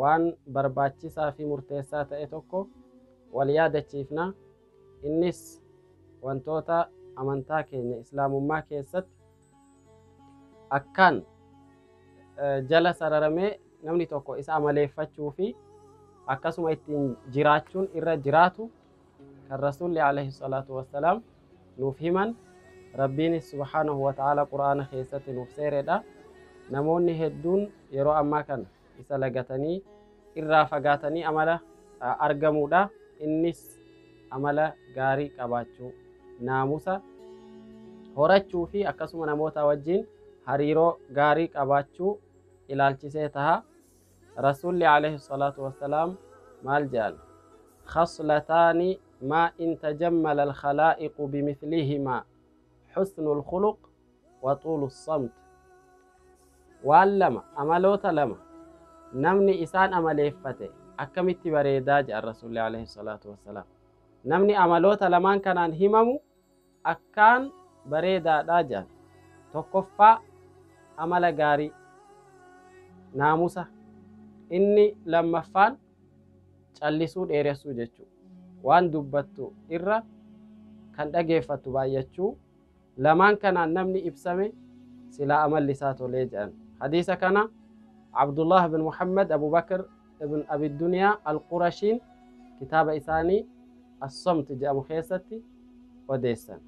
Waan barbaachisaa fi murteessaa ta'e tokko wal yaadachiifna. Innis wantoota amantaa keenya Islaamummaa keessatti akkaan jala sararamee namni tokko isa amaleeffachuu fi akkasuma ittiin jiraachuun irra jiraatu kan Rasuulli alayhi salaatu wassalaam nuuf himan Rabbiinis subhaanahu wa ta'aalaa Qur'aana keessatti nuuf seeredha. Namoonni hedduun yeroo ammaa kana isa lagatanii irraa fagaatanii amala argamuudha. Innis amala gaarii qabaachuu, naamusa horachuu fi akkasuma namootaa wajjiin hariiroo gaarii qabaachuu ilaalchisee taha. Rasuulli alayhi salaatu wassalaam maal je'an? Khaslataani maa in tajammala al-khalaa'iqu bimithlihimaa, husnu al-khuluq wa tuulu as-samt. Waan lama, amaloota lama, namni isaan amaleeffate akkamitti bareeda je'an Rasuulli alayhi salaatu wassalaam. Namni amaloota lamaan kanaan himamu, akkaan bareedaadha jedhan. Tokkoffaa amala gaarii, naamusa, inni lammaffaan callisuu dheeressuu jechuudha. Waan dubbattu irra kan dhageeffattu baay'achuu, lamaan kanaan namni ibsame silaa amalli isaa tolee jedhan. Hadiisa kana Abdullah bin Muhammad Abu Bakr Ibn Abi Duniyaa Al-Qurashiin kitaaba isaanii As-Somt jedhamu keessatti odeessan.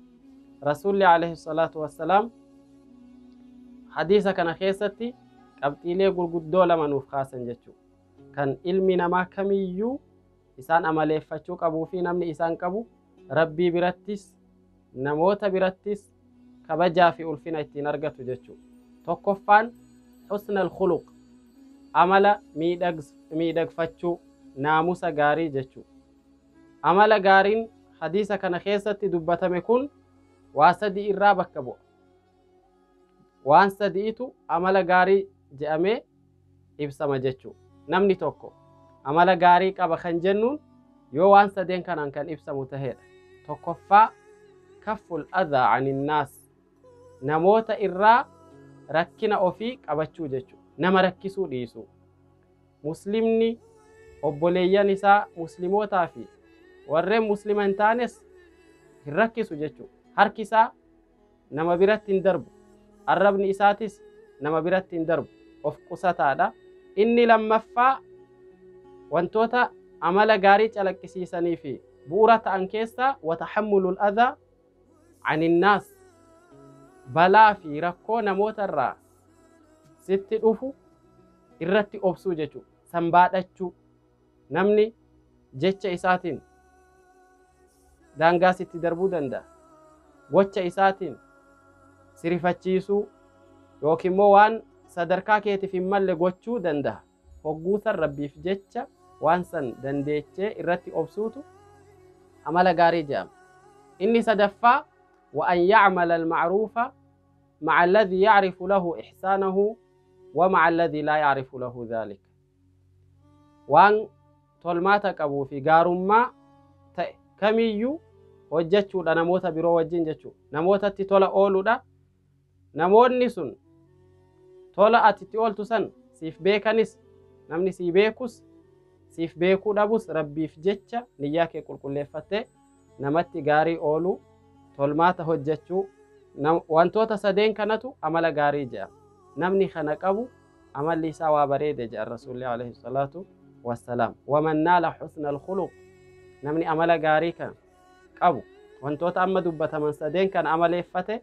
Rasuulli alayhi salaatu wassalaam hadiisa kana keessatti qabxiilee gurguddoo lama nuuf kaasan jechuudha. Kan ilmi namaa kamiyyuu isaan amaleeffachuu qabuu fi namni isaan qabu rabbii birattis namoota birattis kabajaa fi ulfina ittiin argatu jechu. Tokkoffaan husn al-khuluq, amala miidhagfachuu, naamusa gaarii jechu. Amala gaariin hadiisa kana keessatti dubbatame kun waa sadii irraa bakka bu'a. Waan sadi'itu amala gaarii je'amee ibsama jechuudha. Namni tokko amala gaarii qaba kan jennuun yoo waan sadeen kanaan kan ibsamu ta'edha. Tokkoffaa kafful adhaa aninnaas namoota irraa rakkina ofii qabachuu jechuudha. Nama rakkisuu dhiisuu. Muslimni obboleeyyan isaa muslimootaa fi warreen muslima hin taanes hin rakkisu jechuudha. Harki isaa nama biratti hin darbu, arrabni isaatis nama biratti hin darbu, of qusataadha. Inni lammaffaa wantoota amala gaarii calaqqisiisanii fi bu'uura ta'an keessaa watahammulul adhaa aninnaas balaa fi rakkoo namoota irraa sitti dhufu irratti obsuu jechuudha. San baadhachuu. Namni jecha isaatiin daangaa sitti darbuu danda'a. Gocha isaatiin si rifachiisuu yookiin immoo waan sadarkaa keetiif hin malle gochuu danda'a. Hogguu san Rabbiif jecha waan san dandeechee irratti obsuutu amala gaarii jedhama. Inni sadaffaa wa an ya'mala al-ma'ruufa ma'a alladhii ya'rifu lahu ihsaanahu wa ma'a alladhii laa ya'rifu lahu dhaalika. waan tolmaata qabuu fi gaarummaa ta'e kamiyyuu hojjechuudha namoota biroo wajjin jechuudha. Namootatti tola ooluudha. Namoonni sun tola ati itti ooltu san siif beekanis namni sii beekus siif beekuu dhabus rabbiif jecha niyyaa kee qulqulleeffattee namatti gaarii ooluu, tolmaata hojjechuu, wantoota sadeen kanatu amala gaarii jedhama. Namni kana qabu amalli isaa waa bareede jedhan Rasuulli alayhi salaatu wassalaam. Waman naala husna alkhuluq namni amala gaarii kana qabu wantoota amma dubbataman sadeen kana amaleeffate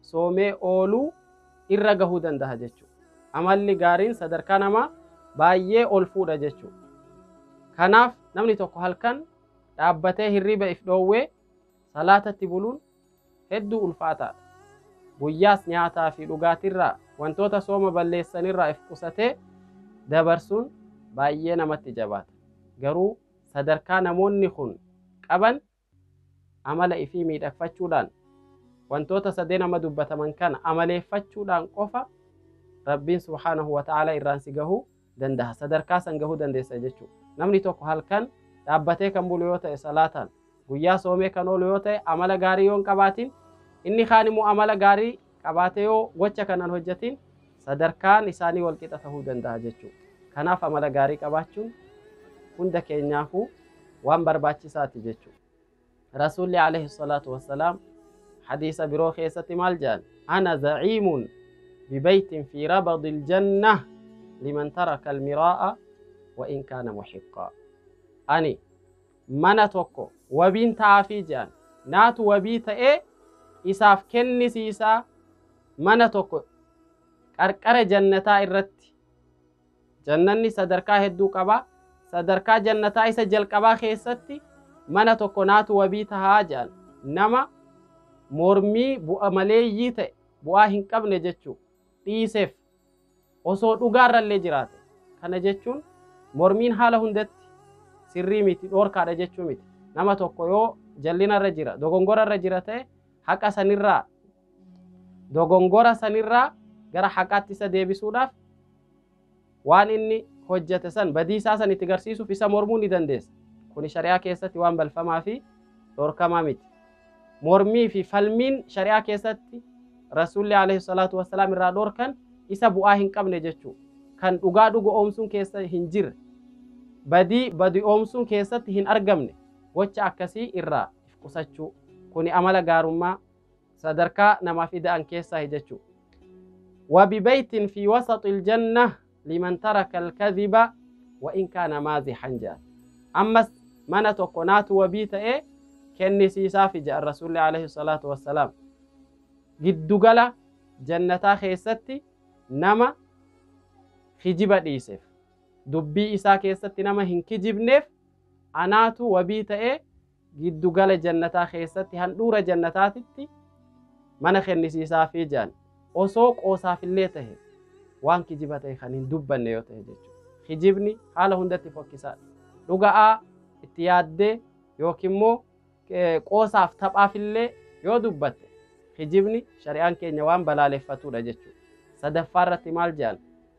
soomee ooluu irra gahuu dandaha jechu. Amalli gaariin sadarkaa namaa baay'ee ol fuudha jechu. Kanaaf namni tokko halkan dhaabbatee hirriiba if dhoowwee salaatatti buluun hedduu ulfaataadha. Guyyaas nyaataa fi dhugaatirraa wantoota sooma balleessanirraa if qusatee dabarsuun baay'ee namatti jabaata. Garuu sadarkaa namoonni kun qaban Amala ifii miidhagfachuudhaan, wantoota sadeen amma dubbataman kana amaleeffachuudhaan qofa Rabbiin subhaanahu wa ta'aalaa irraan si gahuu dandaha. Sadarkaa san gahuu dandeessa jechuudha. Namni tokko halkan dhaabbatee kan bulu yoo ta'e salaataan, guyyaa soomee kan oolu yoo ta'e amala gaarii yoo hin qabaatin, inni kaan immoo amala gaarii qabaate yoo gocha kana hin hojjatiin sadarkaan isaanii wal qixa tahuu dandaha jechuu kanaaf amala gaarii qabaachuun hunda keenyaafuu waan barbaachisaati jechu rasuulli alayhi salaatu wassalaam hadiisa biroo keessatti maal jedhan ana zaciimun bibaytin fi rabadi ljanna liman taraka almiraa'a wa in kaana muxiqqaa ani mana tokko wabiin ta'aafii je'an. Naatu wabii ta'ee isaaf kennisiisaa mana tokko qarqara jannataa irratti. Jannanni sadarkaa hedduu qaba. Sadarkaa jannataa isa jalqabaa keessatti mana tokko naatu wabii tahaa je'an. Nama mormii bu'a maleeyyii ta'e bu'aa hin qabne jechuu. dhiiseef. Osoo dhugaarrallee jiraate. Kana jechuun mormiin haala hundatti sirrii miti, dhoorkaadha jechuu miti. Nama tokko yoo jallinarra jira, dogongorarra jira ta'e haqa sanirraa, dogongora sanirraa gara haqaatti isa deebisuudhaaf, waan inni hojjate san badii isaa san itti garsiisuuf isa mormuu ni dandeessa kuni shari'aa keessatti waan balfamaa fi dhorkamaa miti mormii fi falmiin shari'aa keessatti rasuulli alayhi salaatu wassalaam irraa dhorkan isa bu'aa hin qabne jechuu kan dhugaa dhugu oomsuun keessa hin jirre badii badi oomsuun keessatti hin argamne gocha akkasii irraa if qusachuu kuni amala gaarummaa sadarkaa namaaf ida'an keessaahi jechu wabibeytin fi wasaxi iljanna liman taraka alkadhiba wa in kaana maazixan jedhan ammas mana tokko naatu wabii ta'e kennisiisaafi jedhan rasuulli alayhi salaatu wassalaam giddugala jannataa keessatti nama kijiba dhiiseef dubbii isaa keessatti nama hin kijibneef anaatu wabii ta'e giddu gala jannataa keessatti handhuura jannataatitti mana kennisiisaafii jedhan osoo qoosaafillee tahe waan kijiba tahe kan hin dubbanne yoo tahe jechuudha. Kijibni haala hundatti fokkisaadha. Dhuga'aa itti yaaddee yookiin immoo qoosaaf taphaafillee yoo dubbatte kijibni shari'aan keenya waan balaaleffatudha jechuudha. Sadaffaa irratti maal jedhan?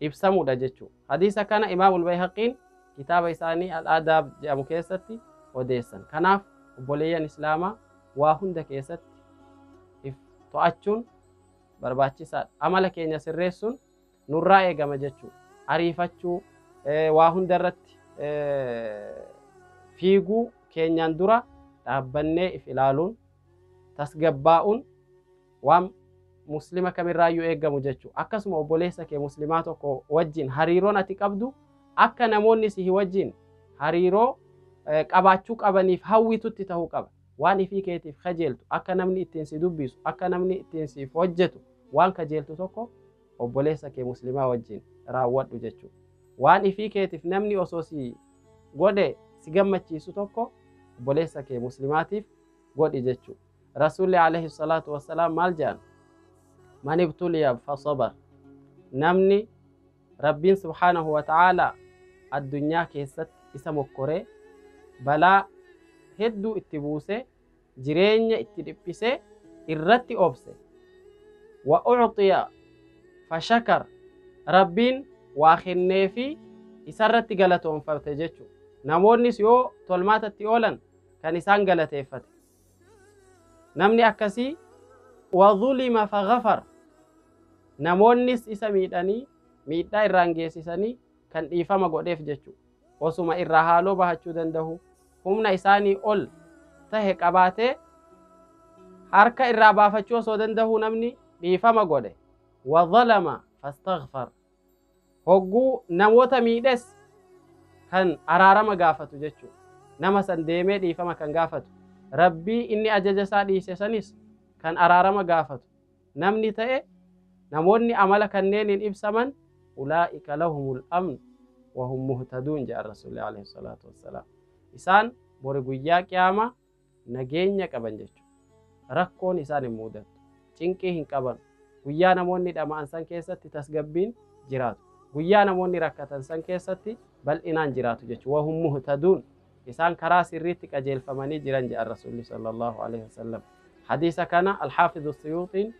ibsamudha jechu. Hadiisa kana Imaamul Bayhaqiin kitaaba isaanii Al-Aadaab jedhamu keessatti odeessan. Kanaaf obboleeyyan Islaamaa waa hunda keessatti if to'achuun barbaachisaadha. Amala keenya sirreessuun nurraa eegama jechu. Ariifachuu, waa hunda irratti fiiguu keenyaan dura dhaabbannee if ilaaluun, tasgabbaa'uun, waan muslima kamirraayyuu eegamu jechu akkasuma obboleessa kee muslimaa tokko wajjin hariiroon ati qabdu akka namoonni sihi wajjin hariiroo qabaachuu qabaniif hawwitutti ta'uu qaba waan ifii keetiif kajeeltu akka namni ittiin si dubbisu akka namni ittiin siif hojjetu waan kajeeltu tokko obboleessa kee muslimaa wajjin raawwadhu jechuu waan ifii keetiif namni osoo si godhe si gammachiisu tokko obboleessa kee muslimaatiif godhi jechuudha. Rasuulli alayhi salaatu wassalaam maal jedhan? Man ibtuliya fasabar. Namni Rabbiin subhaanahu wa ta'aalaa addunyaa keessatti isa mokkoree balaa hedduu itti buusee jireenya itti dhiphisee irratti obse wa ucxiya fashakar Rabbiin waa kennee fi isarratti galatoonfate jechuudha. Namoonnis yoo tolmaatatti oolan kan isaan galateeffate. namni akkasii wazulima fagafar namoonnis isa miidhanii miidhaa irraan geessisanii kan dhiifama godheef jechu osuma irraa haaloo bahachuu danda'u humna isaanii ol tahe qabaatee harka irraa baafachuu osoo danda'u namni dhiifama godhe wazalama fastagfar Hogguu namoota miidhes kan araarama gaafatu jechuudha. Nama san deemee dhiifama kan gaafatu. Rabbii inni ajaja isaa dhiise sanis kan araarama gaafatu. Namni ta'e namoonni amala kanneeniin ibsaman ulaa'ika lahumul amn wahum muhtaduun jedhan Rasuulli alayhi salaatu wassalaam. Isaan bori guyyaa qiyaamaa nageenya qaban jechuudha. Rakkoon isaan hin muudattu. Cinqii hin qaban. Guyyaa namoonni dhama'an san keessatti tasgabbiin jiraatu. Guyyaa namoonni rakkatan san keessatti bal'inaan jiraatu jechuudha. Wahum muhtaduun. Isaan karaa sirriitti qajeelfamanii jiran jedhan Rasuulli sallallahu alaihi wasallam. Hadiisa kana Alxaafidu Suyuuxiin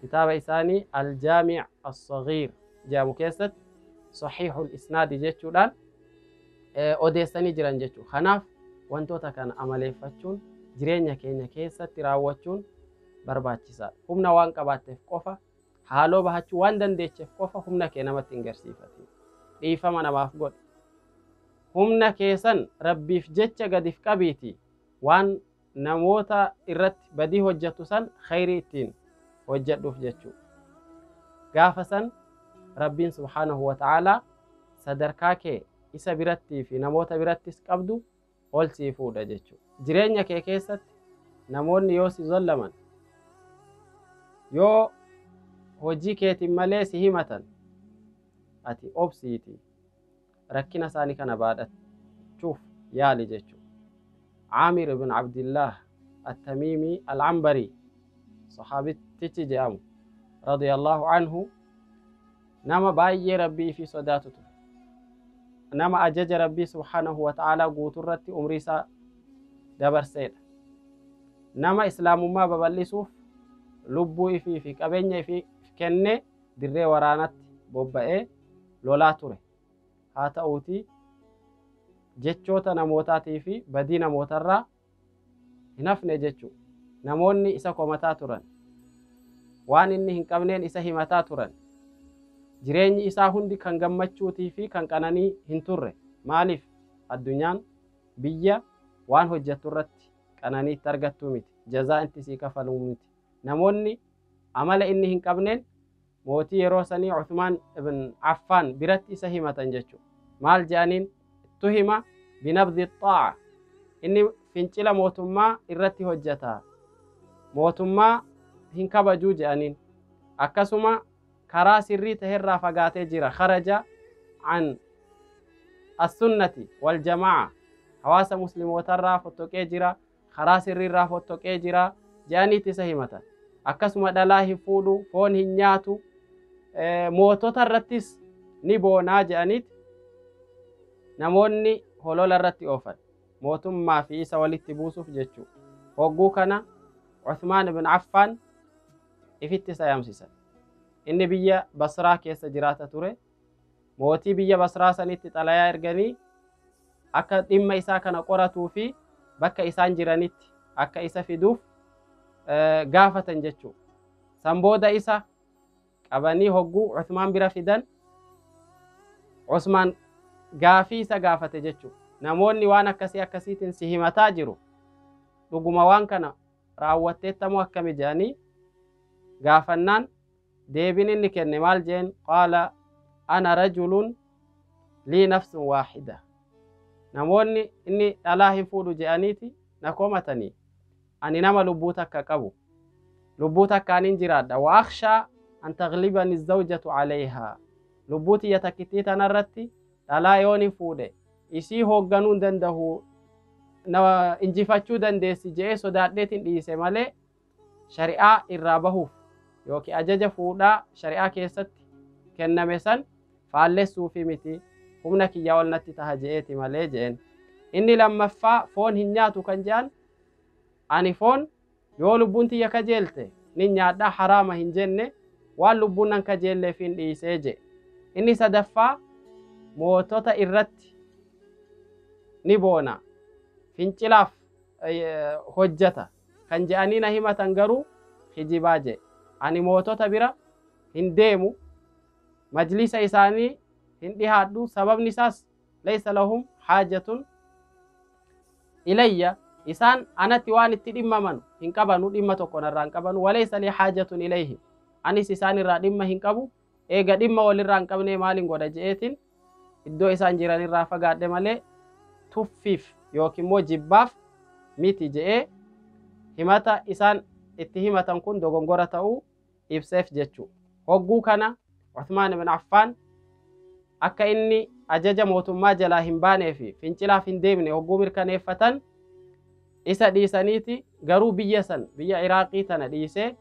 kitaaba isaanii Aljaamic Assaghiir jedhamu keessatti Saxiixul Isnaadi jechuudhaan odeessanii jiran jechuudha. Kanaaf wantoota kana amaleeffachuun jireenya keenya keessatti raawwachuun barbaachisaadha. Humna waan qabaatteef qofa haaloo bahachuu waan dandeecheef qofa humna kee namatti hin garsiifatin. Dhiifama namaaf godhi. Humna keessan rabbiif jecha gadif qabiiti waan namoota irratti badii hojjattu san khayrii ittiin hojjadhuuf jechuu gaafa san rabbiin subhaanahu wa ta'aalaa sadarkaa kee isa birattii fi namoota birattis qabdu ol sii fuudha jechuu jireenya kee keessatti namoonni yoo si zollaman yoo hojii keetiin malee si himatan ati obsiiti rakkina isaanii kana baadhachuuf yaali jechuudha. Aamir ibn Abdillaah Attamiimii Al-Ambarii sahaabittichi jedhamu radiyallahu anhu nama baay'ee rabbii fi sodaatu ture. Nama ajaja rabbii subhaanahu wa ta'aalaa guuturratti umrii isaa dabarseedha. Nama islaamummaa babal'isuuf lubbuu ifii fi qabeenya ifii kenne dirree waraanatti bobba'ee lolaa ture. Haa ta'uutii jechoota namootaatii fi badii namootarraa hin hafne jechuudha. Namoonni isa komataa turan. Waan inni hin qabneen isa himataa turan. Jireenyi isaa hundi kan gammachuutii fi kan qananii hin turre. Maaliif? Addunyaan biyya waan hojjettu irratti qananii itti argattu miti. Jazaa itti sii kafalu miti. Namoonni Amala inni hin qabneen mootii yeroo sanii Uthmaan ibn Affaan biratti isa himatan jechu. Maal je'aniin? Ittuhima binabdhi xaa'a. Inni fincila mootummaa irratti hojjata. Mootummaa hin kabajuu je'aniin. Akkasuma karaa sirrii taherraa fagaatee jira. Kharaja an assunnati waljamaa'a. Hawaasa muslimootarraa fottoqee jira. karaa sirrii irraa fottoqee jira jedhaniiti isa himatan. Akkasuma dhalaa hin fuudhu, foon hin nyaatu, mootota irrattis ni boonaa jedhaniiti namoonni holola irratti oofan. Mootummaa fi isa walitti buusuuf jechuudha. Hogguu kana Uthmaan ibn Affaan ifitti isa yaamsisan. Inni biyya Basraa keessa jiraata ture. Mootii biyya Basraa sanitti xalayaa erganii akka dhimma isaa kana qoratuu fi bakka isaan jiranitti akka isa fiduuf gaafatan jechuu. San booda isa qabanii hogguu Usmaan bira fidan Usmaan gaafii isa gaafate jechuu. Namoonni waan akkasii akkasiitiin si himataa jiru. Dhuguma waan kana raawwatteetta moo akkami jedhanii gaafannaan Deebiin inni kenne maal jeen? Qaala ana rajulun lii nafsun waahida. Namoonni inni dhalaa hin fuudhu je'aniiti na komatanii. Ani nama lubbuu takka qabu. Lubbuu takkaanin jiraadha. Wa akhshaa an taghlibani zawjatu alayhaa. Lubbuu tiyya takkittii tanarratti dhalaa yoonin fuudhe isii hoogganuu hin dandahu na injifachuu dandeessi je'ee sodaadheetin dhiise malee shari'aa irraa bahuuf yookiin ajaja fuudhaa shari'aa keessatti kenname san faallessuufi miti humna kiyya ol natti taha je'eeti malee je'en inni lammaffaa foon hin nyaatu kan je'an ani foon yoo lubbuun tiyya kajeelte nin nyaadha haraama hin jenne waan lubbuun nan kajeelleef hin dhiisee je'e inni sadaffaa mootota irratti ni boona fincilaaf hojjata kan je'anii na himatan garuu kijibaa je'e. Ani mootota bira hin deemu, majliisa isaanii hin dhihaadhu, sababni isaas laysa lahum haajatun ilayya isaan anatti waan itti dhimmamanu hin qabanu, dhimma tokko narraa hin qabanu, walaysa lii haajatun ilayhim anis isaan irraa dhimma hin qabu, Eega dhimma wal irraa hin qabnee maalin godha je'eetin iddoo isaan jiran irraa fagaadhe malee tuffiif yookiin immoo jibbaaf miti je'ee himata isaan itti himatan kun dogongora ta'uu ibseef jechuu. Hogguu kana Uthmaan ibn Affaan akka inni ajaja mootummaa jalaa hin baanee fi fincilaaf hin deemne hogguu mirkaneeffatan Isa dhiisaniiti garuu biyya san, biyya Iraaqii tana dhiisee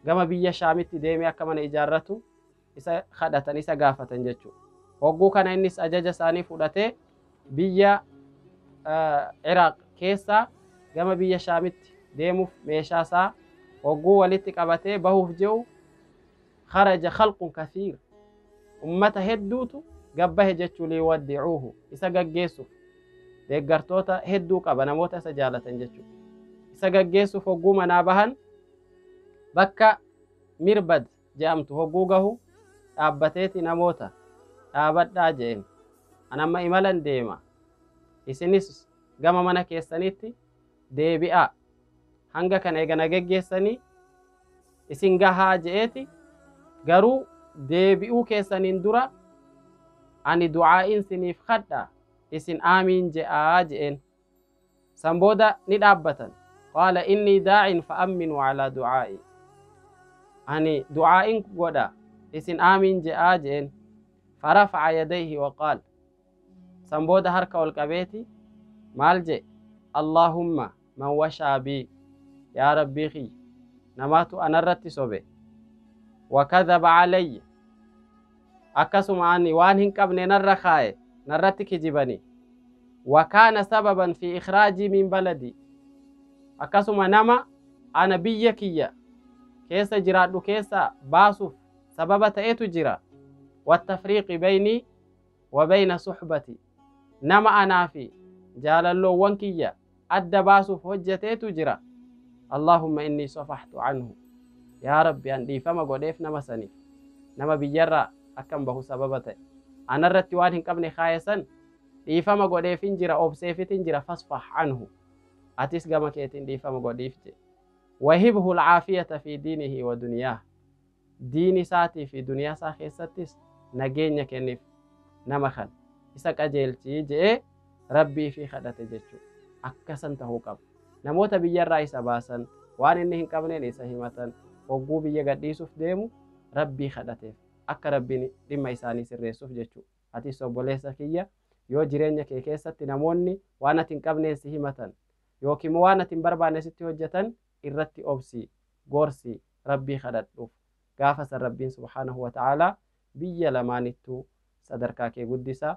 gama biyya Shaamitti deemee akka mana ijaarratu isa kadhatan, isa gaafatan jechuudha. Hogguu kana innis ajaja isaanii fudhatee biyya Iraaq keessaa gama biyya Shaamitti deemuuf meeshaa isaa hogguu walitti qabatee bahuuf je'u kharaja khalqun kathiir ummata hedduutu gad bahe jechuu liyuwaddicuuhu isa gaggeessuuf deeggartoota hedduu qaba namoota isa jaalatan jechuu isa gaggeessuuf hogguu manaa bahan bakka mirbad je'amtu hogguu gahu dhaabbateeti namoota dhaabadhaa je'een an amma imalan deema isinis gama mana keessanitti deebi'aa, hanga kana eega na geggeessanii isin gahaa je'eeti, garuu deebi'uu keessaniin dura ani du'aa'iin siniif khadha, isin aamiin je'aa je'een. San booda ni dhaabbatan. Qaala innii daa'in fa'amminuu alaa du'aa'i. Ani du'aa'iin godha, isin aamiin je'aa je'een. Farafa'a yadayhi waqaal. San booda harka ol qabeeti maal je'e? Allaahumma man washaa bii, yaa Rabbii kiyya namatu anarratti sobe, wa kadhaba calayya, akkasuma ani waan hin qabne narra kaaye, narratti kijibani, wa kaana sababan fii ikhraajii min baladii, akkasuma nama ana biyya kiyya keessa jiraadhu keessaa baasuuf sababa ta'etu jira, wattafriiqi baynii wabayna suhbati nama anaa fi jaalalloowwan kiyya adda baasuuf hojjateetu jira allahumma innii safahtu anhu yaa rabbi an dhiifama godheef nama saniif nama biyyarraa akkan bahu sababa ta'e anarratti waan hin qabne kaaya san dhiifama godheefin jira obseefitin jira fasfah anhu atis gama keetiin dhiifama godhiif je wahibhu alcaafiyata fi diinihi wa duniyaah Diin isaatii fi duniyaa isaa keessattis nageenya kennif, nama kana, isa qajeelchi je'ee Rabbii ifii kadhate jechuudha. Akka san tahuu qaba. Namoota biyyarraa isa baasan, waan inni hin qabneen isa himatan, hogguu biyya gadhiisuuf deemu Rabbii kadhateef, akka Rabbiin dhimma isaanii sirreessuuf jechuudha. Atis obboleessa kiyya, yoo jireenya kee keessatti namoonni waan ati hin qabneen si himatan, yookiin immoo waan ati hin barbaanne sitti hojjatan, irratti obsi, gorsi, Rabbii kadhadhuuf. Gaafa san Rabbiin subhaanahu wa ta'aalaa biyya lamaanittuu sadarkaa kee guddisa.